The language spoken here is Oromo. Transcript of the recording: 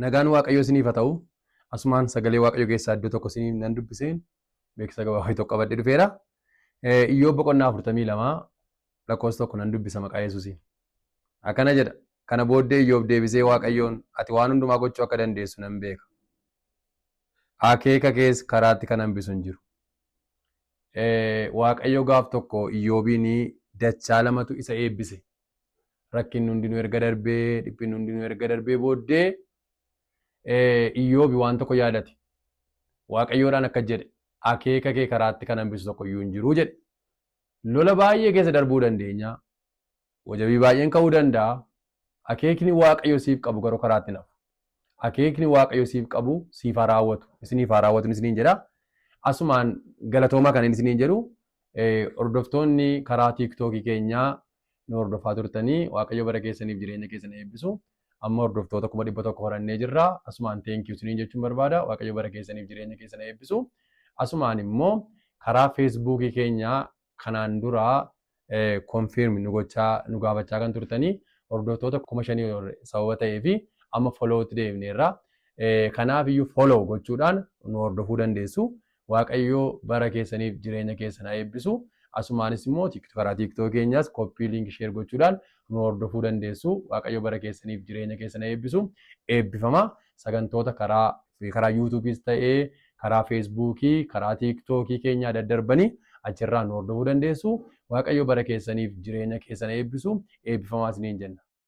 Nagaan Waaqayyoo isiniif haa ta'u. Asumaan sagalee Waaqayyoo keessaa iddoo tokko isiniif nan dubbiseen beeksisa gabaabaa tokko qabadhee dhufeera. Iyyoob boqonnaa afurtamii lama lakkoofsa tokko nan dubbisa maqaa Yesuusiin. Akkana jedha. Kana booddee Iyyoob deebisee Waaqayyoon ati waan hundumaa gochuu akka dandeessu nan beeka. Akeeka kees karaatti kan hambisu hin jiru. Waaqayyo gaaf tokko Iyyoobiin dachaa lamatu isa eebbise. rakkinni hundinuu erga darbee dhiphinni hundinuu erga darbee booddee iyyoobi waan tokko yaadate waaqayyoodhaan akka jedhe akeeka kee karaatti kan hambisu tokko iyyuu hin jiru jedhe lola baay'ee keessa darbuu dandeenya wajabii baay'een ka'uu danda'a akeekni waaqayyo siif qabu garuu karaatti nafu Akeekni Waaqayyo siif qabu siif haa raawwatu. Isiniif haa raawwatu isiniin jedha. Asumaan galatoomaa kan inni isiniin jedhu hordoftoonni karaa tiiktookii keenyaa nu hordofaa turtanii Waaqayyo bara keessaniif jireenya keessan eebbisu. Amma hordoftoota kuma dhibba tokko horannee jirra. Asumaan teenkiyuu isiniin jechuun barbaada. Waaqayyo bara keessaniif jireenya keessan eebbisu. Asumaan immoo karaa feesbuukii keenyaa kanaan dura confirm nu gochaa nu gaafachaa kan turtanii hordoftoota kuma shanii ol sababa ta'ee fi amma followutti deemneerra. Kanaaf iyyuu follow gochuudhaan nu hordofuu dandeessu. Waaqayyoo bara keessaniif jireenya keessan haa eebbisu. Asumaanis immoo karaa tiiktoo keenyaas koppii liinki sheer gochuudhaan nu hordofuu dandeessu. Waaqayyoo bara keessaniif jireenya keessan haa eebbisu. Eebbifama. sagantoota karaa karaa yuutuubiis ta'ee karaa feesbuukii karaa tiiktookii keenyaa daddarbanii achirraa nu hordofuu dandeessu waaqayyo bara keessaniif jireenya keessan eebbisu eebbifamaa isiniin jenna.